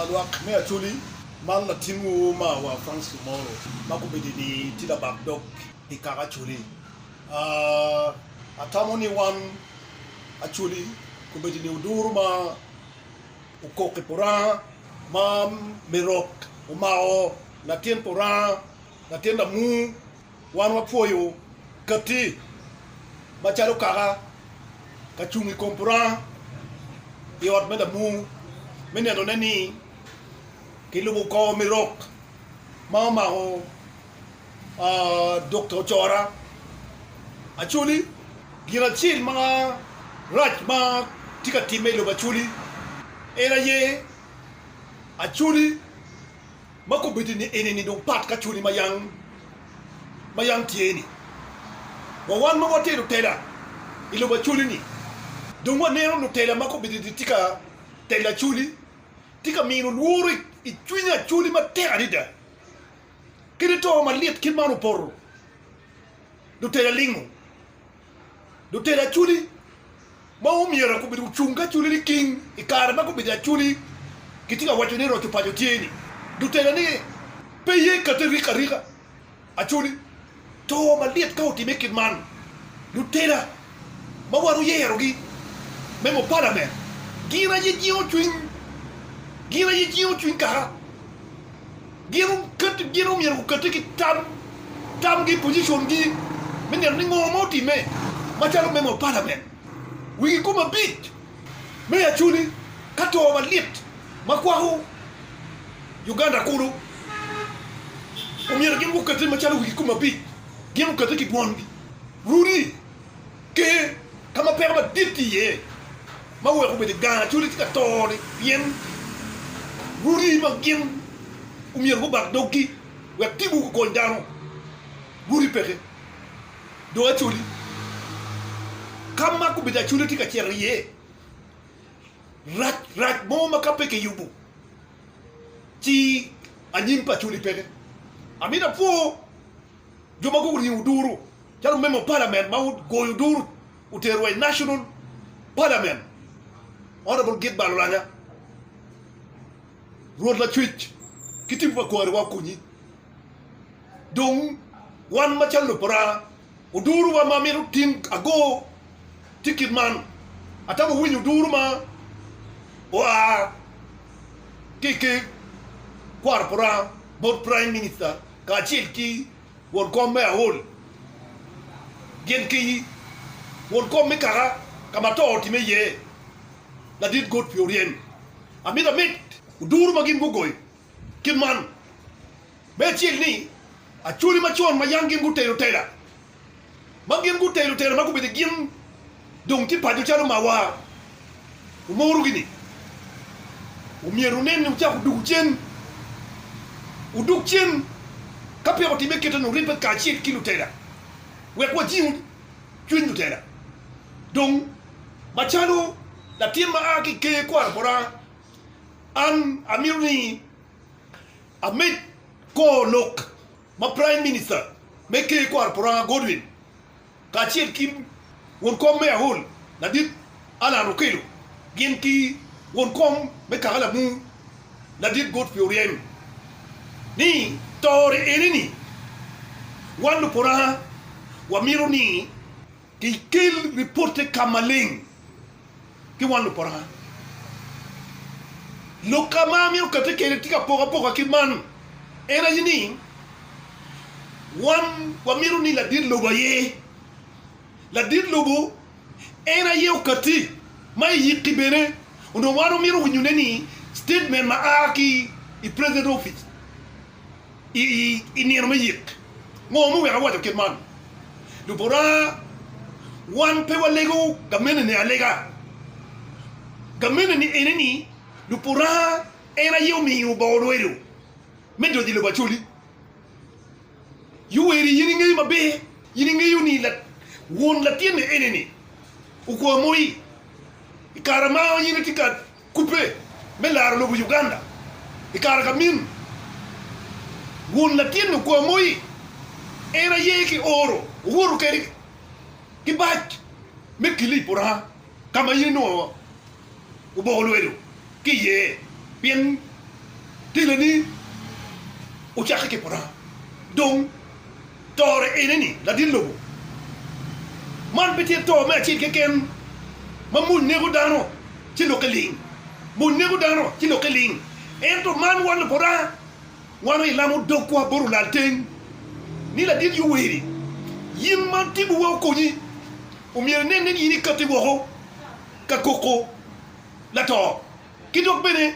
Lwak me Acholi, Man latinwu marwa Francis Omoro ma kubedini tye labak dog i kaka Acholi. Atamo ni wan Acholi kubedini oduro ma okok i Puranga ma me rok omako latin Puranga, latin lamur Wan wapwoyo katti macalo kaka ka cung i kom puranga i ot me lamung me nenone ni kilubo kor me rok ma omako Dokta Ocora. Acholi, Gin acel marac ma tye ka timme i lobo Acholi en aye Acholi. ma kobedi ni eni dong pat ka cwali ma yam tye ni. Wa wan ma watye lutela i lobo acwali-ni, dong waneno lutela ma kobedi ni tye ka telo acwali, tye ka mino lworo i cwiny acwali matek adada. Kadi to malit kit man opoto, lutela lingo. Lutel Acholi ma omyero gubedo gucung ki Acholi liking i kare ma gubedo Acholi gitye ka waco ni roco paco tye ni lutela ni pe ye kati rik arika Acholi to malit ka otime kit man lutela ma waro yero gi me mo palament gin aye jingo cwiny gin aye jingo cwiny kaka Gin omyero gukette ki tam, tamgi i pocicongi me neno ni ngo ma otimme macalo member of parliament wigi kome abic me Acholi ka to malit ma kwako Uganda kulu. Omyero gin gukette macalo wigi kome abic gin gukette ki dwongi runi. Ki ka ma peko madit tye iye ma weko obedo gang acoli tye ka to-ni pien rwodi ma gin omyero gubak doggi wek tipo gukony dano, rwodi peke dong acoli. Ka ma gubedo acoli tye ka cito iye, rac rac mo ma ka pe kiyubo ci anyim pa acoli peke. Amito apwo. Jo ma guriyo duru calo member parliament ma ogoyo duru otero wa i national parliament Honourable Gid Balolanya Rwot Lacwec ki tibu pa kwariwa okonyi dong wan macalo lub pa Oranga oduru wa ma mito tin ago tikit man atamo winyo duru ma oa ki ki kwaro pa Oranga bot prime minister kacel ki won kom me aol, gin ki won kom me kaka ka ma to otimme iye, ladit got pi oryem. Amito amit oduro ma gin gugoyo kit man, me acel ni, acholi macon ma yam gin gutelo tela ma gin gutelo tera ma gubedo gin dong tye paco calo mawa, wumorogi ni omyero wunen ni wucako wudugo cen, wudog cen ka peya wutime kit eno, wuribbe kacel ki lutela wek wajing cwiny lutela. Dong, macalo latin ma a ki i ker kwaro bota, an amito ni amed kor lok. ma Praim Minista me ker kwaro Puranga Godwin kacel ki won kom me Ahol ladit Alan Okello gin ki won kom me Kagalamu ladit Godfrey Oryem ni tore ene ni wan lupuranga wamito ni Ikel ripotte ka maleng ki wan luporanga. Lok ka ma amito katte kwede tye ka poko apoka kit man, en aye ni, wan wamito ni ladit lobo aye ladit lobo, en aye okatti ma iyikki bene, onongo wan wamito winyone ni statement ma a ki i president office. i nino me yik. Ngo muweko awaco kit man? Lubota, wan pe walego gameneni alega. Gameneni ene ni lubota en aye omiyo bongo lwedo me donyo i lobo Acholi. Yoweri, in ingeyo maber, in ingeyo ni won latinni ene-ni okwa moi i kare ma in itye ka Kubbe me laro lobo Uganda i kare ka min wun latin lukwa moi en aye ki oro owoto kedi ki bac me kilip oranga ka ma in onongo oboko lwedo ki iye pien teleni ocake ki puranga dong Tore ene ni, Ladit lobo, man pe tye to me acel keken ma mony neko dano ci lokke ling. Mony neko dano ci lokke ling, ento man wan Luburaga, wan aye ilamo dogwa bot olalteng ni, Ladit Yoweri, in ma tipowa okonyi, omyero inenne ni in ikatti woko ka koko lato ki dok bene,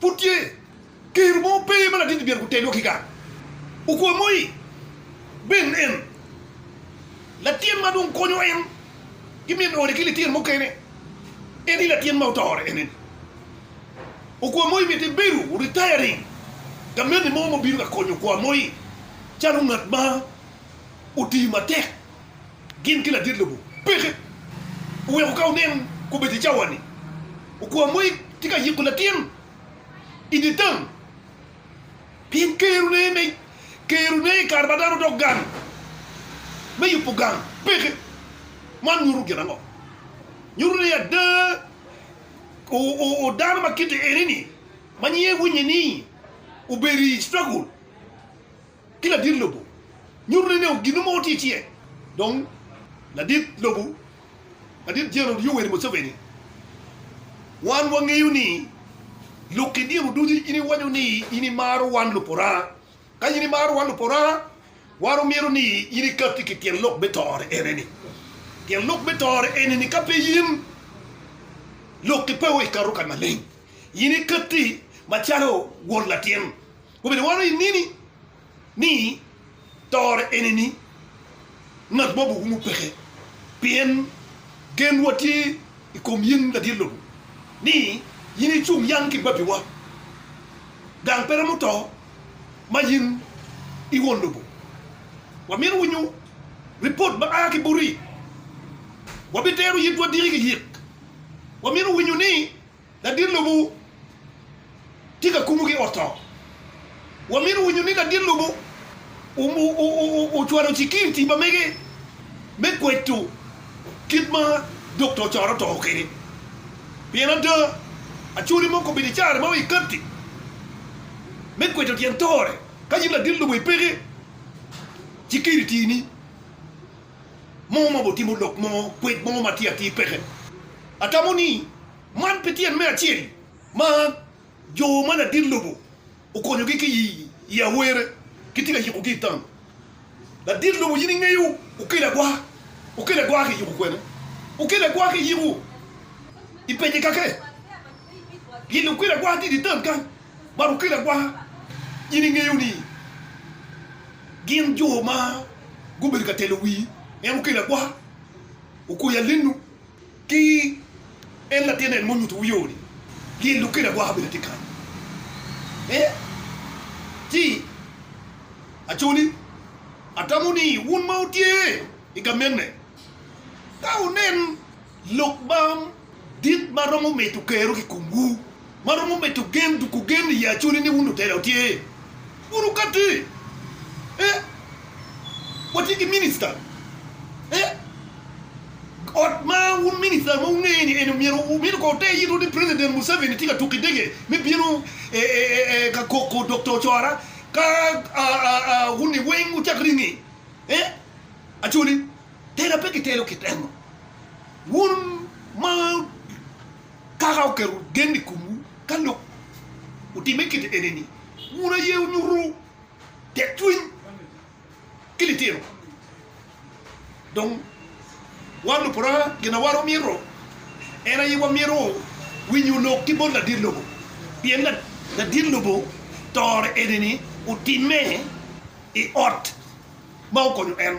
Pud tye kero mo pe ma latingi myero gutelwa ki gang. Okwa moi Ben en latin ma dong konyo en ki min ode ki lityen mukene. En aye latin ma otore ene ni. Okwa moi miti bedo retiring gamenni mo ma obino ka konyo okwa moi calo ngat ma oti matek. gin ki ladit lobo peke. Oweko ka wunen kobedi i cawa-ni, okwa mo tye ka yiko latin i dye tam, pien kerone i kare ma dano dok gang me yubo gang peke. Man nyuto gin ango? Nyuto ni ada, dano ma kite eni-ni ma nyinge Winnie-ni obedo i struggle. ki ladit lobo nyuto ni nongo ginnu mogo tye tye. Dong ladit lobo, ladit General Yoweri Museveni, wan wangeyo ni lok ki diro ducu in iwaco ni in imaro wan Luporanga. Ka in imaro wan Luporanga, wan omyero ni in ikatti ki tyen lok me tore ene-ni. Tyen lok me tore ene-ni ka pe in lok ki peo ikato kany maleng, in ikatti macalo won latin. Kobedi wano i nini ni tore enini ngat mo bukumu peke, pien genwa tye i kom in ladit lobo, ni in icung yang ki babiwa, gang pe romo to ma in i won lobo. Wamito winyo ripot ma a ki buti, wabitero yitwa diki ki yik, wamito winyo ni. Ladit lobo tye ka kubo ki oto. Wamito winyo ni ladit lobo ocwalo cikiriti ma mege me kweto kit ma dokta ocoro to kwede. Pien ada, acoli mo kobedo icare ma i katti me kweto tyen tore. Ka in ladit lobo ipeke cikiriti-ni, mo ma obitimo lok mo, kwed mo ma tye atir peke. Atamo ni man pi tyen me acel ma jo ma ladit lobo okonyogi ki i awere, gitye ka yikogi i tam. Ladit lobo in ingeyo okelo agwaka, okelo agwaka ki yiko kwene? Okelo agwaka ki yiko i pece kake, pien okelo agwaka ki i tam kany. Man okelo agwaka. In ingeyo ni gin jo ma gubedo ka telo wii en okelo agwaka, okwoyo alinu ki en latin en munyuto wu yo ni lyel okelo agwaka bene tye kany. Ee, ci acoli atamo ni wun ma wutye i gamenne ka wunen. Lok bam dit ma romo medo kero ki komwu, ma romo medo gen duku gen i acoli ni wun lutela wutye. Wunu kati eh watye ki minister eh ot ma wun minister ma wungeyo ni en myero wumino ko te yito ni president Museveni tye ka tuku idege me bino eh eh eh ka koko Doctor Ocora ka ah ah ah wuni weng wucak ringe eh acoli. Tela pe gitelo kit enno. Wun ma Kaka oketo gen i komwu, ka lok otimme kit enini, wun aye wunyuto tekcwiny ki litino. Dong wan luporanga, gin ma wan wamito en aye wamito winyo lok ki bot ladit lobo, pien ladit lobo tore enini otimme i ot ma okonyo en.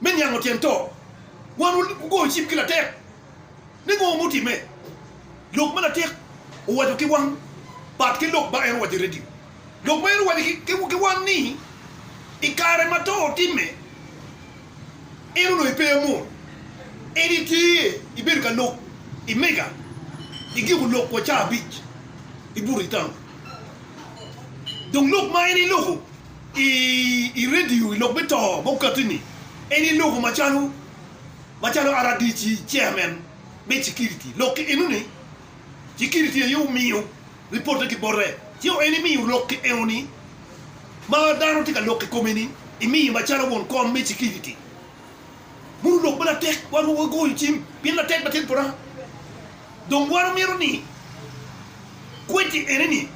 me niango tyen to, wan wugoyo cim ki latek ni ngo ma otimme. Lok ma latek owaco ki wan pat ki lok ma en owaco i redio. Lok ma en owaco ki wan ni i kare ma to otimme, en onongo ipe amol, en itye ibedo ka lok i mega i giko lok wa cawa abic i buto i taun. Dong lok ma en iloko. I redio, i lok me to ma okatti-ni, en i loko macalo macalo rdc, Chairman me Security. Lok ki enoni, Security aye omiyo ripotte ki bote, ci en imiyo lok ki enoni ma dano tye ka lok i kome-ni, imiye macalo won kom me Security. Muru lok ma latek, wan wa wagoyo cim pien latek latin pota. Dong wan omito ni kweddi enoni.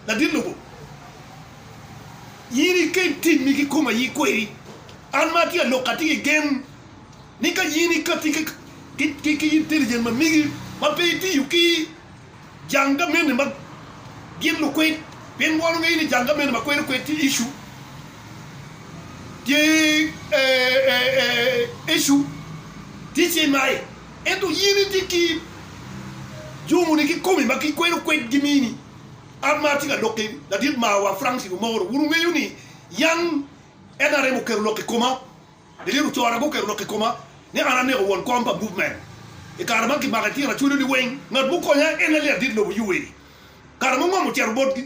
Ladit lobo, in ikel timmi ki kom aye kweri. An ma atye alok atye ki gen ni ka in ikatti ki intelligent ma migi ma pe itiyo ki jang gamente ma gin lukwed, pien wan wangeyo ni jang gamente ma kwero kwed tye issue, tye issue, tye CMI, ento in itye ki jongoni ki komi ma gikwero kwed gimini. An ma atye ka lokki, ladit marwa Francis Omoro, wun wungeyo ni yam nrm oketo lok i koma, lilito cora guketo lok i koma ni an aneko won kom pa Movement. I kare ma kimako i tyena cwalo liweng, ngat mukonya en aye ladit lobo Yoweri. Kare ma ongom ocito bot,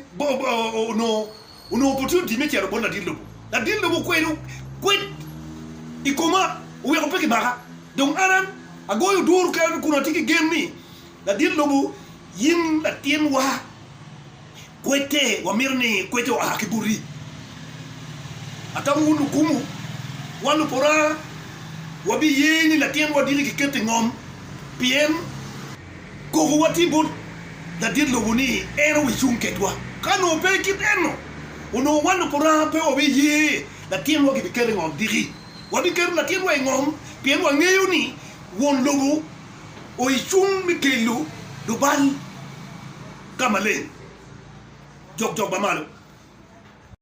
onongo pe otye odimme cito bot ladit lobo. Ladit lobo okwedo kwed i koma, oweko pe kimaka. Dong an agoyo duru kena kun atye ki gen ni Ladit lobo, in latinwa, kwedde wamito ni kwedde oa ki boti. Atamo wun lukumu, wan lupora wabiye ni latinwa aditi kiketo i ngom, pien kokowa tye bot ladit lobo ni en obi cung kedwa. Ka nongo pe kit eno, onongo wan lupora pe wabiye latinwa kibiketo i ngom diki. Wabiketo latinwa i ngom pien wangeyo ni won lobo o i cung me kelo lubal ka maleng jokjok ma malo.